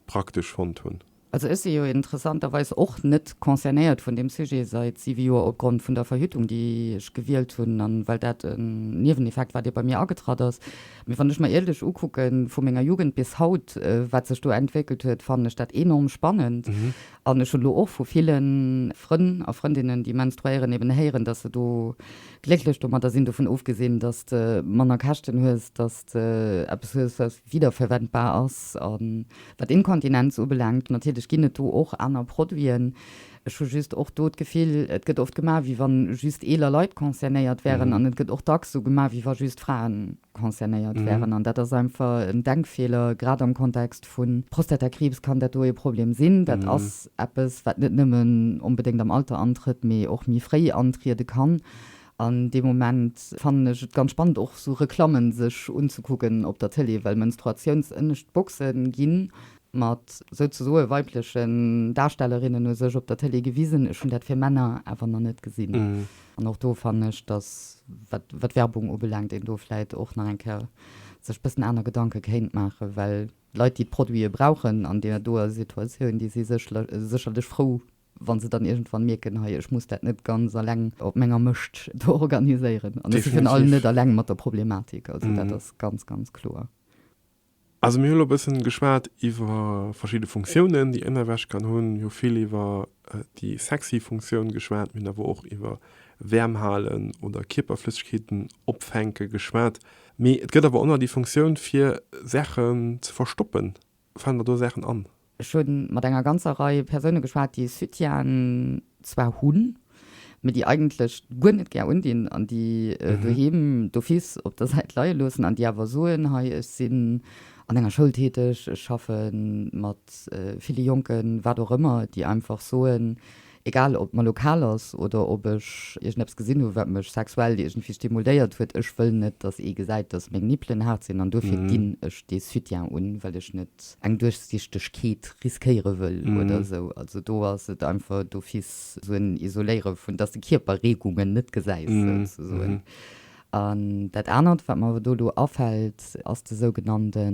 praktesch fonnt hunn. Also ech si jo interessanterweis och net concernéiert vun deem Sujet seit siwe Joer opgrond vun der Verhütung, déi ech gewielt hunn an well dat en Nieweneffekt war, dee bei mir agetratt ass. Mee wann ech mer ierlech ukucken, vu menger Jugend bis haut, wat sech do entwéckelt huet, fannen ech dat enorm spannend. An ech hunn elo och vu ville Frënn a Frëndinnen, déi menstruéieren, eben héieren, dass se do glécklech domadder sinn, dovun ofgesinn, dass de manner Käschten hues, dass de eppes hues, wiederverwendbar ass. A wat Inkontinenz ubelaangt, natierlech ginn et do och aner Produiten. Ech hu just och do d'Gefill, et gëtt oft gemaach, wéi wann just eeler Leit concernéiert wären. An et gëtt och dacks esou gemaach, wéi wa just Fraen concernéiert wären. An dat ass einfach en Denkfeeler. Grad am Kontext vu Prostatakriibs kann dat do ee Problem sinn. Dat ass eppes, wat net nëmmen onbedéngt am Alter antrëtt, mee och méi fréi antriede kann. An dee Moment fannen ech et ganz spannend och sou Reklammen sech unzekucken op der Tëlee, well Menstruatiounsënnescht Boxen ginn mat souzesoe weiblechen Darstellerinnen u sech op der Tëlee gewisen. Ech hunn dat fir Männer awer nach net gesinn. An och do fannen ech, dass wat wat Werbung ubelaangt een do vläit och nach eng Kéier sech bëssen aner Gedanke kéint maachen, well Leit déi d'Produite brauchen an deer doer Situatioun, déi si sécherlech frou Wa se dann iergendwann mierken, Hei, ech muss dat net ganz eleng op menger Mëscht do organiséieren. An ech si virun allem net eleng mat der Problematik. Also dat ass ganz, ganz kloer. Also mir hu lo e bëssen geschwat iwwer verschidde Funktiounen, déi ënnerwäsch kann hunn. Mir hu vill iwwer déi sexy Funktioun geschwat. Mir hunn awer och iwwer Wäerm halen oder Kierperflëssegkeeten opfänke geschwat. Mee et gëtt awer och nach déi Funktioun, fir Saachen ze verstoppen. Falen der do Saachen an? Ech hu mat enger ganzer Rei Persoune geschwat, déi e Soutien zwar hunn, mee déi eigentlech guer net gär undinn an déi doheem d'office op der Säit leie loossen an déi awer soen, Hei, ech sinn an enger Schoul täteg, ech schaffe mat ville Jonken, wat och ëmmer, déi einfach soen, Egal ob et mer lokal ass oder ob ech iergendeppes gesinn hu wat mech sexuell iergendwéi stimulléiert huet, ech wëll net dass ee gesäit dass meng Nippelen haart sinn an duerfir ginn ech dee Soutien un, well ech net eng Duerchsichtegkeet riskéiere wëll oder esou. Also do ass et einfach d'office esou en Isoléiere vun, dass de Kierper Reegungen net gesäis souzesoen. An dat anert wat mer awer do elo afält ass de sougenannte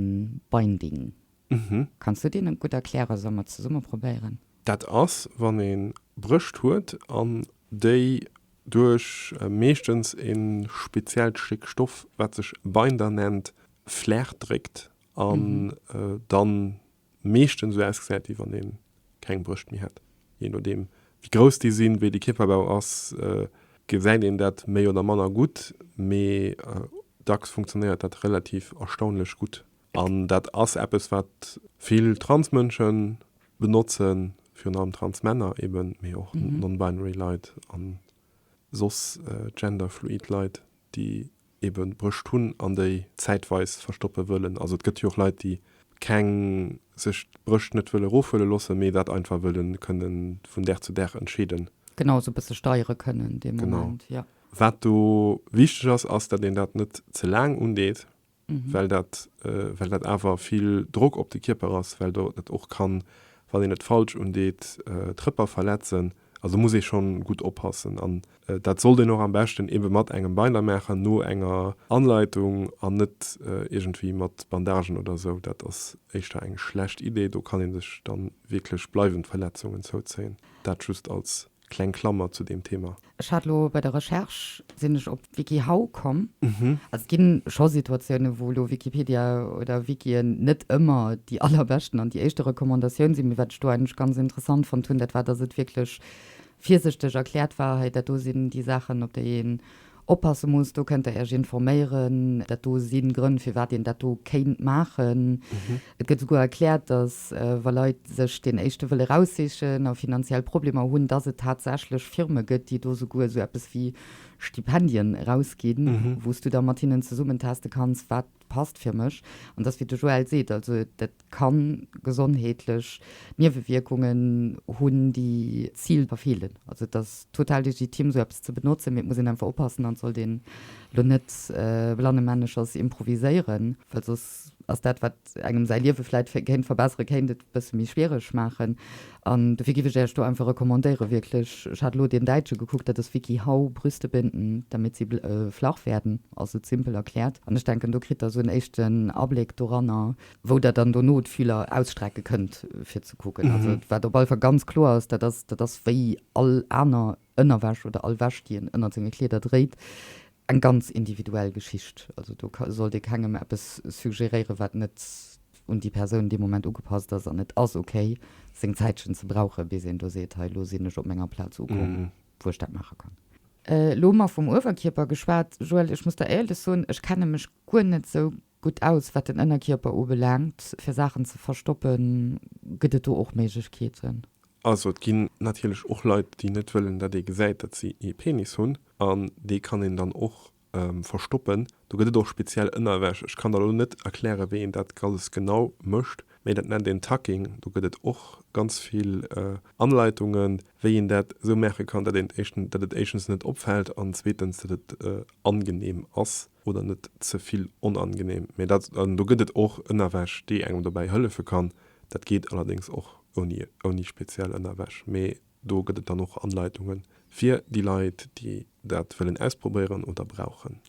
Binding. Mhm. Kanns du deen net gutt erklären, soll mer zesumme probéieren? Dat ass wann een Brëscht huet an déi duerch meeschtens een speziellt Stéck Stoff wat sech Binder nennt flaachdréckt an dann meeschtens sou ausgesäit wéi wann een keng Brëscht méi hätt. Jee nodeem wéi grouss déi sinn, wéi de Kierperbau ass gesäit een dat méi oder manner gutt, mee dacks funktionéiert dat relativ erstaunlech gutt. An dat ass eppes, wat vill Transmënsche benotzen, virun allem Transmänner eben, mee och non-binary Leit a soss genderfluid Leit, déi ebe Brëscht hunn an déi zäitweis verstoppe wëllen. Also et gëtt jo och Leit, déi keng, sech d'Brëscht net wëlle erofhuele loossen, mee dat einfach wëlle kënnen vun Dag zu Dag entscheeden. Genau, esou e bësse steiere kënnen dee Moment. Genau. Wat do wichteg ass, ass, datt een dat net ze laang undeet. well dat, well dat awer vill Drock op de Kierper ass, well do et och kann, wann een et falsch undeet, d'Rëpper verletzen. Also muss ee schonn gutt oppassen an dat sollt een och am beschten ebe mat engem Binder maachen, no enger Anleitung an net iergendwéi mat Bandagen oder esou. Dat ass éischter eng schlecht Idee, do kann ee sech da wierklech bleiwend Verletzungen zouzéien. Dat just als Kleng Klammer zu deem Thema. Ech hat elo bei der Recherche, sinn ech op WikiHow komm. Also et gi scho Situatiounen, wou elo Wikipedia oder Wikien net ëmmer déi allerbeschten an déi éischte Recommandatioun sinn. Mee wat ech do eigentlech ganz interessant fonnt hunn, dat war, dass et wierklech virsichteg erkläert war, hei dat do sinn déi Saachen, op déi een oppasse muss, do kënnt Der Iech informéieren, dat do si Grënn, firwat een dat do kéint maachen. Et gëtt esouguer erkläert, datt wa Leit sech deen éischte wëlle raussichen a finanziell Problemer hunn, datt et tatsächlech Firme gëtt, déi do esouguer esou eppes wéi Stipendien erausginn, wou s du da mat hinnen zesummen teste kanns, wat passt fir mech. An dass, wéi de Joël seet, also dat ka gesondheetlech Niewewierkungen hunn, déi d'Zil verfeelen. Also et ass total legitim, esou eppes ze benotzen, mee et muss een einfach oppassen an et sollt een elo net blannemännechers improviséieren, well soss ass dat, wat engem säi Liewe vläicht kéint verbesseren, kéint et e bësse méi schwiereg maachen. An dofir giff ech äech do einfach recommandéieren, wierklech, ech hat elo deen däitsche gekuckt, dat ass Wikihow, Brüste binden, damit sie flach werden, ass et simpel erkläert. An ech denken, do kritt der esou en éischten Abléck doranner, wou der dann dono d'Fühler ausstrecke kënnt fir ze kucken. Also wat op alle Fall ganz kloer ass, dat ass, dat ass wéi all aner Ënnerwäsch oder all Wäsch, déi een ënnert senge Kleeder dréit, eng ganz individuell Geschicht. Also do sollt ee kengem eppes suggeréieren, wat net un déi Persoun dee Moment ugepasst ass. An et ass okay, seng Zäitchen ze brauchen, bis een do seet, hei elo sinn ech op menger Plaz ukomm, wou ech dat maache kann. Elo mol vum Uewerkierper geschwat, Joëlle, ech muss der éierlech soen, ech kenne mech guer net esou Gutt aus, wat den Ënnerkierper ubelaangt, fir Saachen ze verstoppen, gëtt et do och Méiglechkeeten. Also et ginn natierlech och Leit, déi net wëllen, datt ee gesäit, datt si ee Penis hunn, an dee kann een dann och verstoppen. Do gëtt et och speziell Ënnerwäsch. Ech kann der elo net erklären, wéi een dat alles genau mécht, mee dat nennt een Tucking. Do gëtt et och ganz vill Anleitungen, wéi een dat esou maache kann, datt et éischtens net opfält an zweetens, datt et angenehm ass. oder net ze vill onangenehm, mee dat, an do gëtt et och Ënnerwäsch déi engem dobäi hëllefe kann, dat geet allerdéngs och ouni, ouni speziell Ënnerwäsch, mee do gëtt et dann och Anleitunge fir déi Leit déi dat wëllen ausprobéieren oder brauchen.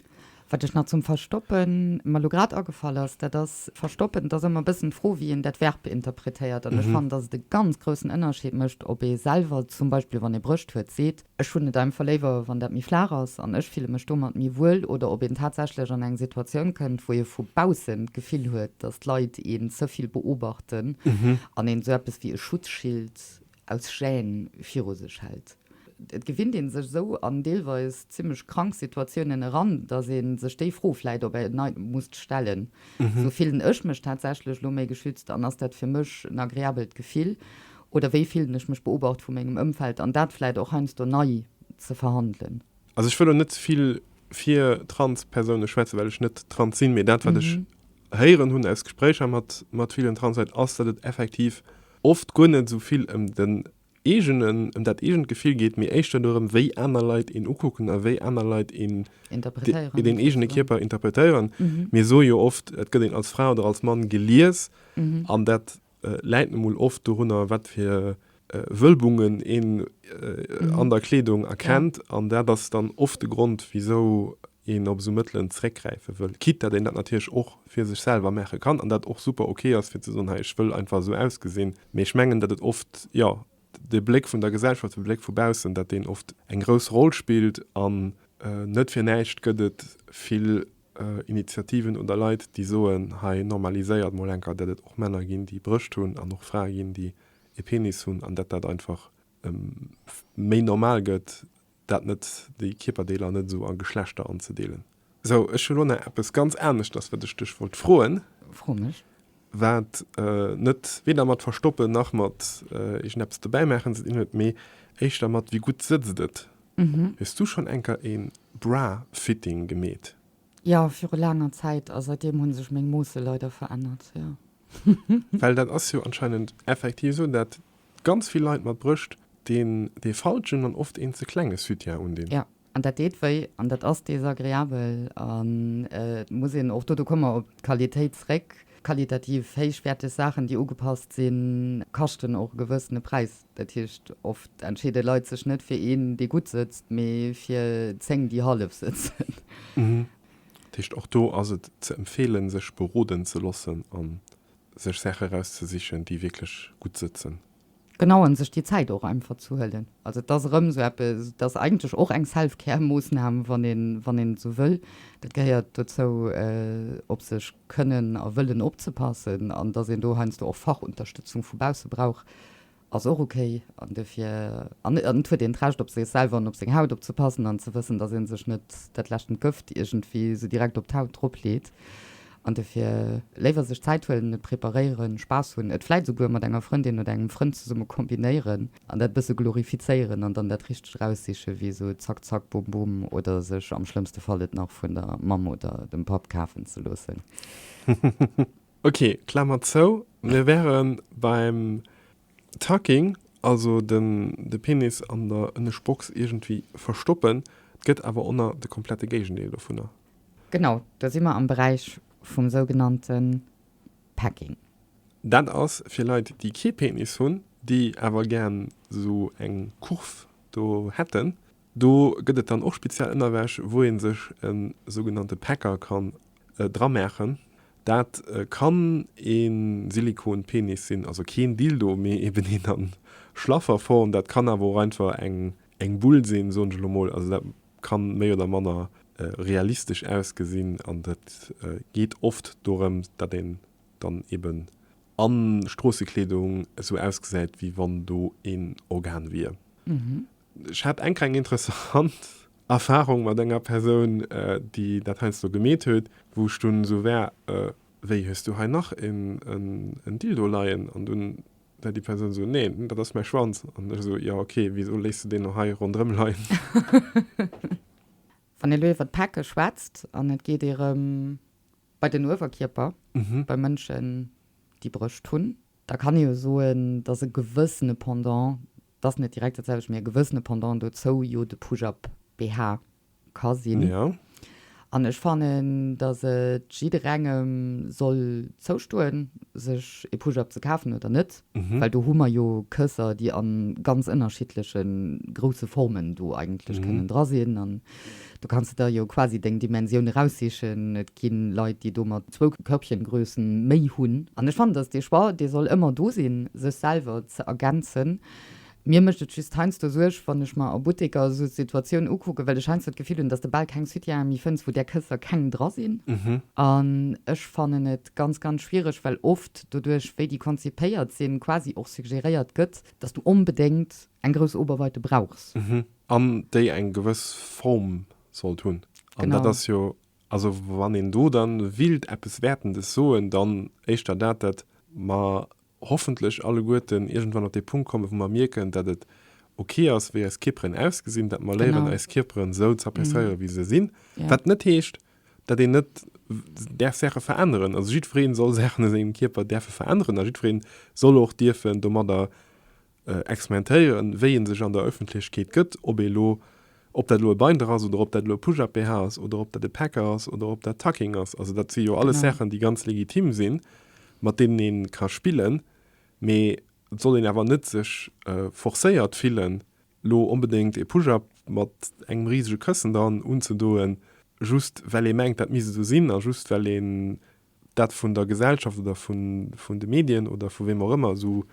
Wat ech nach zum Verstoppen mer elo grad agefall ass, dat ass, Verstoppen, et ass ëmmer e bëssen d'Fro wéi een dat Verb interpretéiert, an ech fannen, datt et e ganz groussen Ënnerscheed mécht, ob ee selwer zum Beispill, wann ee Brëscht huet, seet, Ech hunn et einfach léiwer, wann dat méi flaach ass an ech fille mech domat méi wuel. Oder ob een tatsächlech an eng Situatioun kënnt, wou ee vu baussen d'Gefill huet, datt d'Leit een ze vill beobachten an een esou eppes wéi e Schutzschild aus Gêne viru sech hält. Et gewinnt ee sech esou an deelweis zimmlech krank Situatiounen eran, datt ee sech déi Fro vläicht op en Neits musst stellen, Esou fillen ech mech tatsächlech elo méi geschützt an ass dat fir mech en agreabelt Gefill? Oder wéi fillen ech mech beobacht vu mengem Ëmfeld? An dat vläit och heiansdo nei ze verhandelen. Also ech wëll elo net ze vill fir Transpersoune schwätzen, well ech net trans sinn, mee dat, wat ech héieren hunn aus Gespréicher mat, mat villen Transleit, ass, datt et effektiv oft guer net esou vill ëm den eegenen, ëm dat eegent Gefill geet, mee éischter dorëm, wéi aner Leit een ukucken a wéi aner Leit een deen eegene Kierper interpretéieren. Mir soe jo oft, et gëtt een als Fra oder als Mann gelies an dat, läit nun mol oft dorunner wat fir Wölbungen een an der Kleedung erkennt an dat ass dann oft de Grond wisou een op esou Mëttelen zeréckgräife wëll, quitte dat een dat natierlech och fir sech selwer maache kann an dat och super ok ass fir ze soen, hei ech wëll einfach esou ausgesinn. Mee ech mengen dat et oft, jo, de Bléck vun der Gesellschaft, de Bléck vu baussen, dat deen oft eng grouss Roll spillt an net fir näischt gëtt et vill Initiativen oder Leit déi soen, hei normaliséiert mol enker dat et och Männer ginn déi Brëscht hunn an och Frae ginn déi ee Penis hunn an dat dat einfach méi normal gëtt dat net, déi Kierperdeeler net esou a Geschlechter anzedeelen. Sou, ech hu lo nach eppes ganz aneschters wat ech dech wollt froen. Fro mech. Wat net weder mat verstoppen nach mat iergendeppes dobäimaachen ze dinn huet, mee éischter mat wéi gutt sëtzt et. Hues du schonn enker ee Bra-Fitting gemeet? Jo, viru laanger Zäit. A säitdeem hu sech meng Moosse leider verännert, jo. Well dat ass jo anscheinend effektiv esou, dat ganz vill Leit mat Brëscht deen dee falschen an oft een ze klenge Sütien undinn. An dat deet wéi an dat ass desagreabel. An et muss een och, do komme mer op d'Qualitéit zréck, qualitativ héichwäerteg Saachen, déi ugepasst sinn, kaschten och e gewëssene Präis. Dat heescht, oft entscheede Leit sech net fir een, dee gutt sëtzt, mee fir zéng, déi hallef sëtzen. Dat heescht, och do ass et ze empfeelen, sech beroden ze loossen a sech Saache erauszesichen, déi wierklech gutt sëtzen. Genau, an sech déi Zäit och einfach ze huelen. Also et ass erëm esou eppes, et ass eigentlech och eng Self-Care-Moossnam, wann een esou wëll. Dat gehéiert dozou, op sech kënnen a wëllen opzepassen. An datt een do heiansdo och Fachunterstützung vu bausse brauch, ass och okay. An duerfir, an et huet een d'Recht op sech selwer an op seng Haut opzepassen an ze wëssen, datt ee sech net dat leschten Gëft iergendwéi esou direkt op d'Haut drop leet. An dofir léiwer sech Zäit huelen, et preparéieren, Spaass hunn, et vläit esouguer mat enger Frëndin oder engem Frënd zesumme kombinéieren an dat bësse glorifizéieren an dann dat Richtegt eraussichen, wéi esou Zack Zack Bum Bum oder sech am schlëmmste Fall et nach vun der Mamm oder dem Papp kafen ze loossen. Ok, Klamer zou. Mir wäre beim Tucking, also de Penis an der Ënnegbox iergendwéi verstoppen. Et gëtt awer och nach de komplette Géigendeel dovunner. Genau, do si mer am Beräich vum sougenannte Pegging. Dat ass fir Leit, déi kee Penis hunn, déi awer gären esou eng Kurv do hätten. Do gëtt et dann och speziell Ënnerwäsch, wou ee sech e sougenannte Pecker kann dramaachen. Dat kann e Silikon-Penis sinn, also keen Dildo, mee eeben een a Schlafferform. Dat kann awer och einfach eng Eng Bull sinn, soen ech elo mol. Also dat ka méi oder manner realistesch ausgesinn an et geet oft dorëms, datt een dann eben a Stroossekleedung esou ausgesäit, wéi wann do een Organ wier. Ech hat eng kleng interessant Erfarung mat enger Persoun, déi dat heiansdo gemeet huet, wou ech dunn esou war, Wéi, hues du hei nach en Dildo leien? An dunn Well déi Persoun esou, Neen, dat ass mäi Schwanz. An ech esou, Jo, okay, wisou léisst du deen no hei ronderëm leien? Wann ee lo iwwer d'Pecke schwätzt an et geet ee rëm bei den Uewerkierper, bei Mënschen, déi Brëscht hunn, da kann ee jo soen, dass e gewëssene Pendant, et ass net direkt dat selwecht, mee e gewëssene Pendant dozou jo de Push-Up-BH ka sinn. Ja. An ech fannen, dass et jidderengem soll zoustoen, sech ee Push-Up ze kafen oder net, well do hu mer jo Kësser, déi a ganz ënnerschiddleche grousse Formen do eigentlech kënnen dra sinn. An do kanns de der jo quasi deng Dimensioun eraussichen. Et gi Leit, déi domat zwou Körbchengrössen méi hunn. An ech fannen, dass dee Choix, dee soll ëmmer do sinn, sech selwer ze ergänzen, Mir mécht et just heiansdo Suerg, wann ech mer a Butteker esou Situatioun ukucken, well ech heiansdo d'Gefill hunn, dass de bal keng Soutienen méi fënns, wou där Kësser keng dra sinn. An ech fannen et ganz, ganz schwiereg, well oft doduerch, wéi déi konzipéiert sinn, quasi och suggeréiert gëtt, dass du onbedéngt eng grouss Oberweite brauchs. An déi eng gewëss Form sollt hunn. An dat ass jo, also wann een do da wéilt eppes Wäertendes soen, dann éischter dat, dat mer hoffentlech alleguerten iergendwann op dee Punkt kommen, wou mer mierken, datt et ok ass, wéi eis Kierperen ausgesinn, datt mer léieren, eis Kierperen esou z'appreciéieren, wéi se sinn, wat net heescht, datt een net däerf Saache veränneren. Also jiddweree soll Saachen u sengem Kierper däerfe veränneren a jiddweree soll och dierfen domadder experimentéieren, wéi ee sech an der Ëffentlechkeet gëtt, ob ee lo, ob dat elo e Binder ass oder ob dat elo e Push-Up-BH ass oder ob dat e Packer ass oder ob dat Tucking ass. Also dat si jo alles Saachen, déi ganz legitim sinn, mat deenen ee ka spillen, mee et soll een awer net sech forcéiert fillen, lo onbedéngt e Push-Up mat engem risege Këssen dran unzedoen, just well ee mengt, dat misst esou sinn a just well ee dat vun der Gesellschaft oder vun de Medien oder vu weem och ëmmer esou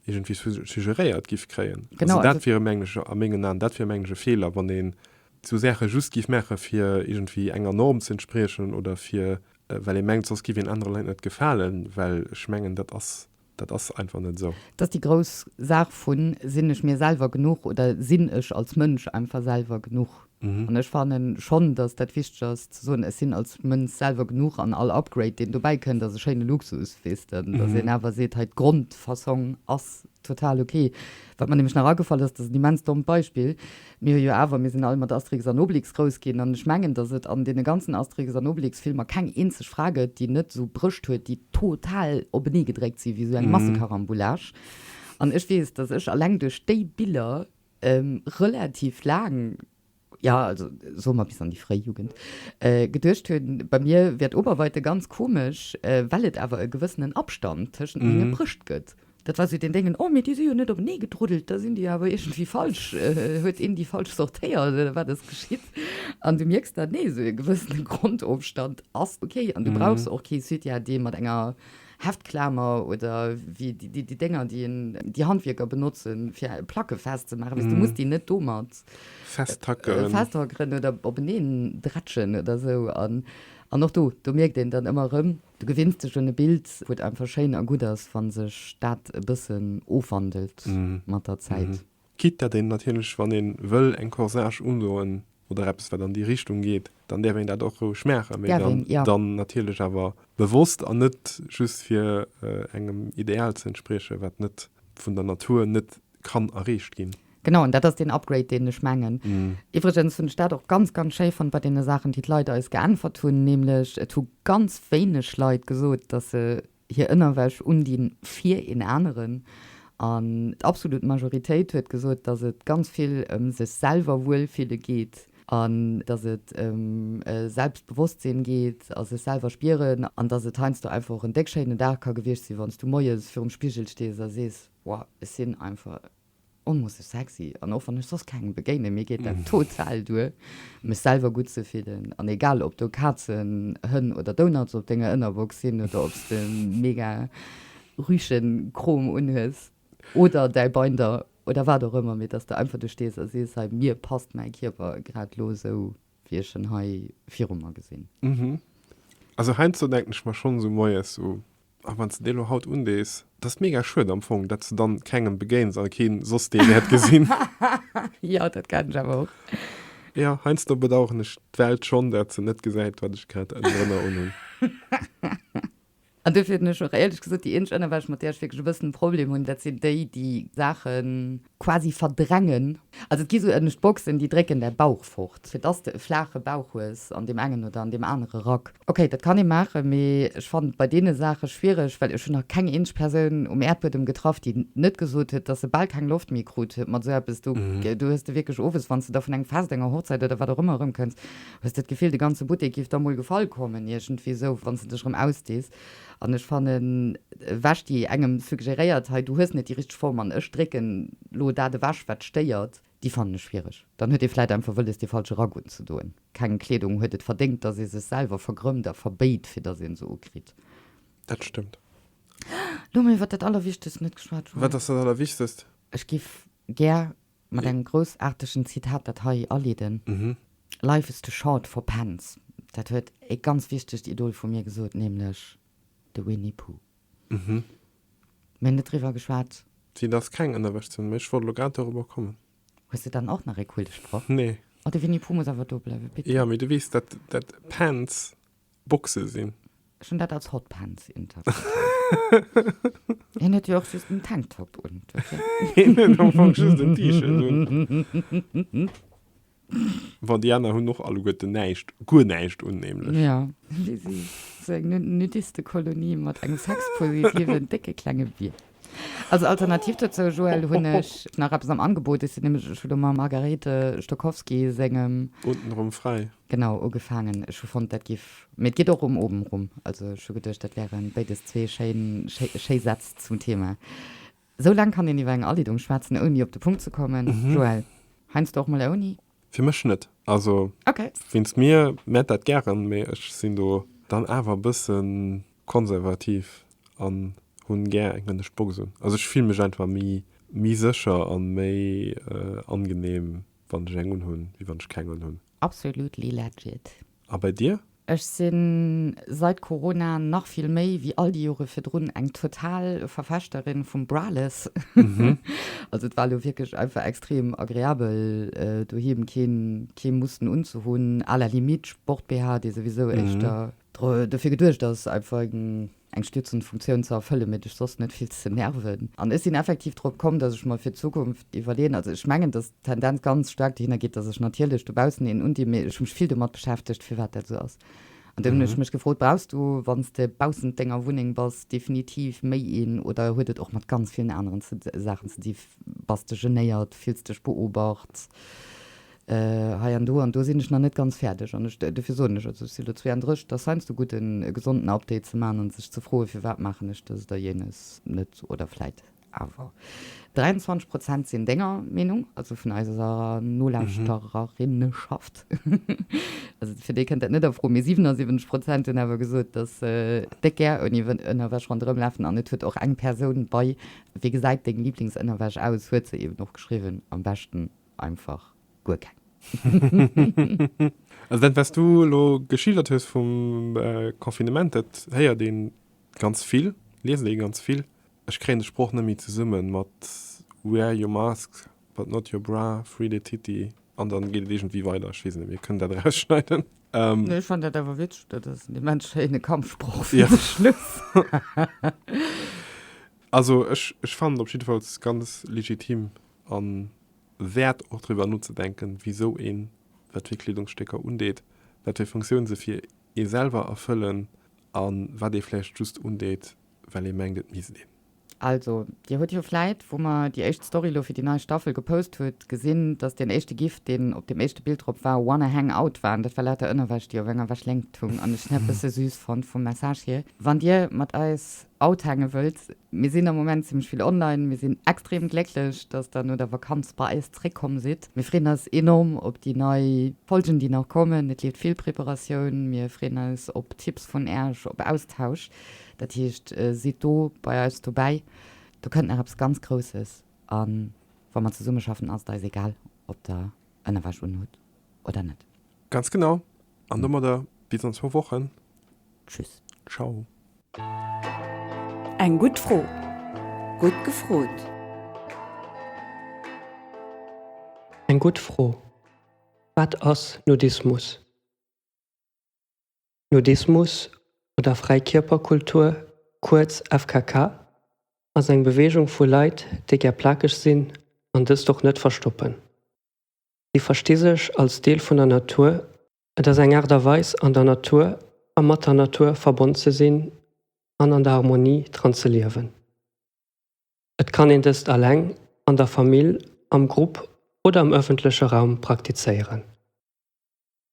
iergendwéi suggeréiert giff kréien. Also dat wier, mengen ech, a mengen Aen, dat wier, mengen ech, e Feeler, wann een esou Saache just giff maache fir iergendwéi enger Norm ze entspriechen oder fir, well ee mengt, soss giff een anere Leit net gefalen, well ech mengen, dat ass. Dat ass einfach net esou. Et ass déi grouss Saach vu sinn ech mir selwer genuch oder sinn ech als Mënsch einfach selwer genuch. An ech fanne schonn, datt dat wichteg ass ze soen, ech sinn als Mënsch selwer genuch an all Upgrade deen dobäi kënnt ass e schéine Luxus, weess de, datt een awer seet, hei d'Grondfassong ass total ok. Wat mer nämlech nach agefall ass, dat ass en immens dommt Beispill, Mir hu jo awer, mir sinn all mat Asterix an Obelix grouss ginn, an ech mengen, datt et an deene ganzen Asterix an Obelix Filmer keng eenzeg Fra gëtt, déi net esou Brëscht huet, déi total openee gedréckt sinn, wéi esou eng Massekarambolage. An ech weess, datt ech alleng duerch déi Biller relativ laang, ja, also soe mer bis an déi fréi Jugend, geduecht hunn, bei mir wär d'Oberweite ganz komesch, well et awer e gewëssenen Abstand tëschent menge Brëscht gëtt. Dat war sou deen Déngen, oh mee déi si jo net openee gedruddelt, da sinn déi awer iergendwéi falsch, huet een déi falsch sortéiert oder wat ass geschitt? An du mierks dann, nee, sou e gewëssene Grondofstand ass ok an du brauchs och kee Sutya, dee mat enger Heftklamer oder wéi déi Dénger, déi een, déi Handwierker benotzen, fir Placke festzemaachen, weess du muss déi net domat festhackeren oder openeen drätschen oder sou. An och do, do mierkt een dann ëmmer erëm, Du gewinns dech un e Bild, wou et einfach schéin a gutt ass, wa sech dat e bëssen ofwandelt mat der Zäit. Quitte datt een natierlech, wann ee wëll eng Corsage undoen oder eppes, wat an déi Richtung geet, dann däerf een dat och roueg maachen, mee dann natierlech awer bewosst an net just fir engem Ideal ze entspriechen, wat net vun der Natur net kann erreecht ginn. Genau, an dat ass deen Upgrade, deen ech mengen. Iwwregens hunn ech dat och ganz, ganz schéi fonnt bei deene Saachen, déi d'Leit eis geäntwert hunn, nämlech et hu ganz wéineg Leit gesot, dass se hir Ënnerwäsch undinn fir een aneren. An d'absolut Majoritéit huet gesot, dass et ganz vill ëm sech selwer wuel fille geet an dass et ëm e Selbstbewosstsinn geet a sech selwer spieren an dass et heiansdo einfach och en déck schéinen Dag ka gewiescht sinn, wann s du moies virum Spigel stees a sees, Wow, ech sinn einfach onmoosseg sexy an och wann ech soss kengem begéinen, mir geet dat total duer mech selwer gutt ze fillen an egal ob do Kazen, Hënn oder Donuts op denger Ënnerbox sinn oder ob s de mega rüschen Krom unhues oder däi Binder oder wat och ëmmer, mee dass de einfach do stees a sees, hei mir passt mäi Kierper grad elo esou wéi ech en hei viru mer gesinn. Also heiansdo denken ech mer schonns u moies sou. A wann s de déi elo haut undees, et ass mega schued am Fong, datt s de dann kengem begéins a kee soss dee wäert gesinn. Jo, dat geheit ech awer och. Jo, heiansdo bedaueren ech d'Welt schonn, datt se net gesäit, wat ech grad ënnerënner unhunn. An duerfir hunn ech och, éierlech gesot, déi eenzeg Ënnerwäsch, mat där ech wierklech e bëssen e Problem hunn, dat sinn déi, déi Saachen. quasi verdrängen. Also et gi sou ënnescht Boxen, déi drécken däi Bauch fort, fir dass de e flaache Bauch hues an deem engen oder an deem anere Rack. Ok, dat kann ee maachen, mee ech fannen et bei deene Saache schwiereg, well ech hunn nach keng eenzesch Persoun um Äerdbuedem getraff, déi net gesot huet, dass se bal keng Loft méi krut mat sou eppes. Do hues de wierklech owes, wann s de da vun engem Fest, enger Hochzäit oder wat och ëmmer erëmkënns, hues de d'Gefill, de ganze Buttek giff der mol gefall kommen, iergendwéi sou, wann s de dech erëm ausdees. An ech fannen, ewech déi engem suggeréiert hei, du hues net déi richteg Form an ech drécken elo dat ewech wat stéiert, déi fannen ech schwiereg. Dann huet ee vläit einfach wëlles dee falsche Rack unzedoen. Keng Kleedung huet et verdéngt, dass ee sech selwer vergrëmmt a verbéit fir dass een se ukritt. Dat stëmmt. Elo hu mir iwwert dat Allerwichtegst net geschwat, Joël. Wat ass dat Allerwichtegst? Ech géif gär Mat engem groussaartegen Zitat, dat hei aleeden, Life is too short for pens. Dat huet e ganz wichtegt Idol vu mir gesot, nämlech de Winnie Puuh. Mir hunn net driwwer geschwat. Si dass keng ënnerwech sinn, mee ech wollt elo grad dorobber kommen. Hues de dann och nach ee Quillsproch? Nee. Oh, de Winnie Puuh muss awer do bleiwen, bitte. Jo, mee du weess, dat, dat pens, Boxe sinn. Ech hunn dat als Hotpants interpretéiert. Hien huet jo och just en Tanktop un. Hien huet am Fong just en T-Shirt un. Bon, déi aner hunn och alleguerte näischt, guer näischt un nämlech. Jo, si si sou eng Nudistekolonie mat engem sexpositiven décke klenge Bier. Als Alternativ dozou, Joël, hunn ech nach eppes am Angebot. Ech sinn nämlech, ech hu lo mam Margarete Stokowski sengem. Untenrum fräi. Genau, ugefaangen. Ech hu fonnt, dat giff, mee et geet och um Oben rum. Also ech hu geduecht, dat wären béides zwee schéin, schéi Sätz zum Thema. Esou laang kann een iwwer eng Aliddung schwätzen, ouni op de Punkt ze kommen. Joël, heiansdo och mol ouni? Fir mech net. Also wéinst mir mäert dat gären, mee ech sinn do dann awer e bësse konservativ an hunn gär eng hënnesch Box un. Also ech fille mech einfach méi sécher a méi angeneem Wann ech eng unhun wéi wann ech keng unhun. Absolutely legit. A bei dir? Ech sinn sait Corona nach vill méi wéi all déi Joren virdrun eng total Verfechterin vum Braless. Also et war elo wierklech einfach extrem agreabel doheem keen mussten unzehunn, à la limite Sport-BH dee souwisou éischter dofir geduecht ass einfach eng stützend Funktioun ze erfëllen, mee dech soss net fills ze nerven. An ech sinn effektiv drop komm, dass ech mer fir d'Zukunft iwwerleeën, also ech mengen, dass d'Tendenz ganz staark dohinner geet, dass ech natierlech dobaussen een undinn, mee ech hu mech vill domat beschäftegt, firwat dat esou ass. An dunn hunn ech mech gefrot, brauchs du, wann s de baussent denger Wunneng bass, definitiv méi een oder huet et och mat ganz villen aneren Saachen ze di, bass de genéiert, fills dech beobacht, hei an do an do sinn ech nach net ganz fäerdeg an ech, dofir soen ech, also ech sinn elo 32, et ass heiansdo gutt e gesonden Update ze maachen an sech ze froen, firwat maachen ech dëst oder jenes net oder vläit awer. 23 Prozent sinn denger Meenung, also vun eiser Nolauschtererinnenschaft, also fir déi kënnt dat net a Fro, mee 77 Prozent hunn awer gesot, datt se déck gär ouni Ënnerwäsch ronderëm lafen an et huet och eng Persoun bei, Wéi gesäit deng Liblingsënnerwäsch aus? huet se eeben och geschriwwen, am beschten einfach guer keng. Also dat wat s du elo geschildert hues vum Confinement, dat héiert ee ganz vill, liest ee ganz vill. Ech kréien de Sproch net méi zesummen mat wear your mask but not your bra, free the titty an dann geet et iergendwéi weider. Ech weess net, mir kënnen dat erausschneiden. Nee, ech fannt dat awer witzeg, dat ass en immens schéine Kampfsproch fir de Schluss. Also ech fannt en op jiddefalls ganz legitim. A wäert och driwwer nozedenken, wisou een wat fir Kleedungsstécker undeet, wat fir Funktioun se fir ee selwer erfëllen a wat ee vläicht just undeet, well ee mengt, et misst een. Also, Dir hutt jo vläit, wou mer déi éischt Story lo fir déi nei Staffel gepost hutt, gesinn, dass deen éischte GIF, deen op deem éischte Bild drop war, Wanna hang out? war. An dat war lauter Ënnerwäsch, déi op enger Wäschléngt hung. An ech hunn dat e bësse süß fonnt vum Message hier. Wann Dir mat eis Out hänge wëllt. Mir sinn am Moment zimlech vill online. Mir sinn extrem glécklech, dass der no der Vakanz bei eis zréck komm sidd. Mir freeën eis enorm op déi nei Folgen, déi nach kommen. Et leeft vill Preparatioun. Mir freeën eis op Tipps vun Äech, op Austausch. Dat heescht, sidd do bei eis dobäi. Do kënnt nach eppes ganz Grousses. A wa mer zesummeschaffen, ass et eis egal, ob der Ënnerwäsch unhutt oder net. Ganz genau. An domadder bis an zwou Wochen. Tschüss. Ciao. Eng gutt Fro. Gutt gefrot. Eng gutt Fro. Wat ass Nudismus? Nudismus oder Fräikierperkultur, kuerz FKK, ass eng Beweegung vu Leit, déi gär plakeg sinn an dëst och net verstoppen. Si versti sech als Deel vun der Natur, et ass eng Aart a Weis an der Natur a mat der Natur verbonn ze sinn an an der Harmonie dran ze liewen. Et kann een dëst alleng, an der Famill, am Grupp oder am ëffentleche Raum praktizéieren.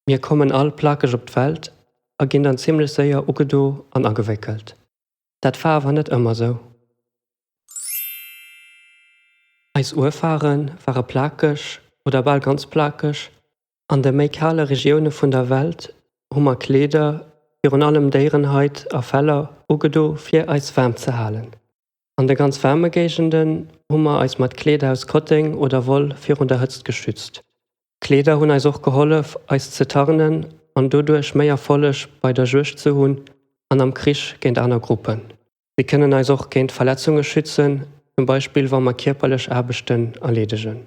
Mir kommen all plakeg op d'Welt a ginn dann zimmlech séier ugedo an agewéckelt. Dat war awer net ëmmer sou. Eis Urfare ware plakeg oder bal ganz plakeg. An de méi kale Regioune vun der Welt hu mer Kleeder, virun allem Déierenhait a Feller, ugedo fir eis waarm ze halen. An de ganz waarme Géigenden hu mer eis mat Kleeder aus Kotteng oder Woll virun der Hëtzt geschützt. Kleeder hunn eis och gehollef eis ze tarnen an doduerch méi Erfolleg bei der Juegd ze hunn an am Krich géint aner Gruppen. Si kënnen eis och géint Verletzunge schützen, zum Beispill wa mer kierperlech Aarbechten erleedegen.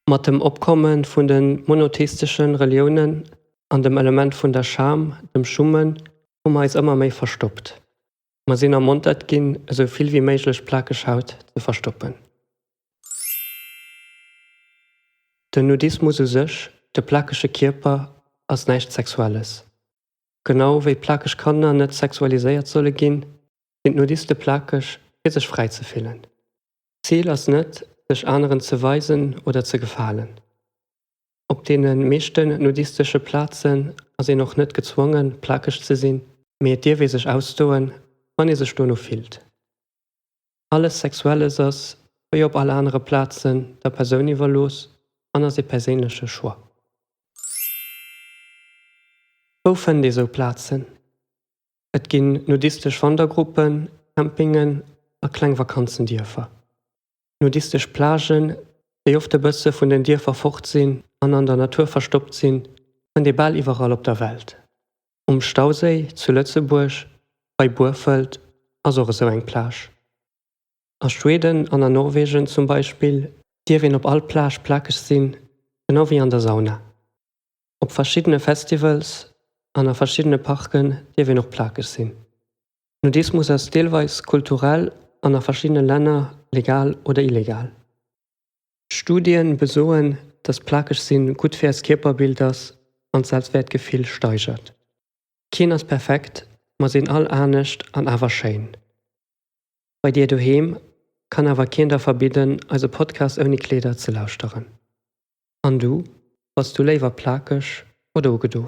Mat dem Opkomme vun de monotheistesche Reliounen an dem Element vun der Scham, dem Schummen, hu mer eis ëmmer méi verstoppt. Mer sinn ermontert ginn, esou vill wéi méiglech plakeg Haut ze verstoppen. Den Nudismus u sech, de plakege Kierper, ass näischt Sexuelles. Genau wéi plakeg Kanner net sexualiséiert solle ginn, sinn d'Nudiste plakeg, fir sech fräi ze fillen. D'Zil ass net, sech aneren ze weisen oder ze gefalen. Op deene meeschten nudistesche Plazen ass een och net gezwongen, plakeg ze sinn, mee et dierf ee sech ausdoen, wann ee sech dono fillt. Alles Sexuelles ass, wéi op all anere Plazen, der Persoun iwwerlooss an ass ee perséinleche Choix. Wou fënnt ee sou Plazen? Et ginn nudistesch Wandergruppen, Campingen a kleng Vakanzendierfer. Nudistesch Plagen, déi oft e bësse vun den Dierfer fort sinn an an der Natur verstoppt sinn, fënnt ee bal iwwerall op der Welt. Um Stauséi zu Lëtzebuerg, bei Burfelt, ass och esou eng Plage. A Schweden an a Norwegen zum Beispill dierf een op all Plage plakeg sinn, genau wéi an der Sauna. Op verschiddene Festivals an a verschiddene Parken dierf een och plakeg sinn. Nudismus ass deelweis kulturell an a verschiddene Länner legal oder illegal. Studien besoen, dass plakeg sinn gutt fir eist Kierperbild ass an d'Selbstwäertgefill steigert. Keen ass perfekt, mer sinn all anescht an awer schéin. Bei dir doheem kann awer keen der verbidden eise Podcast ouni Kleeder ze lauschteren. An du, bass du léiwer plakeg oder ugedo?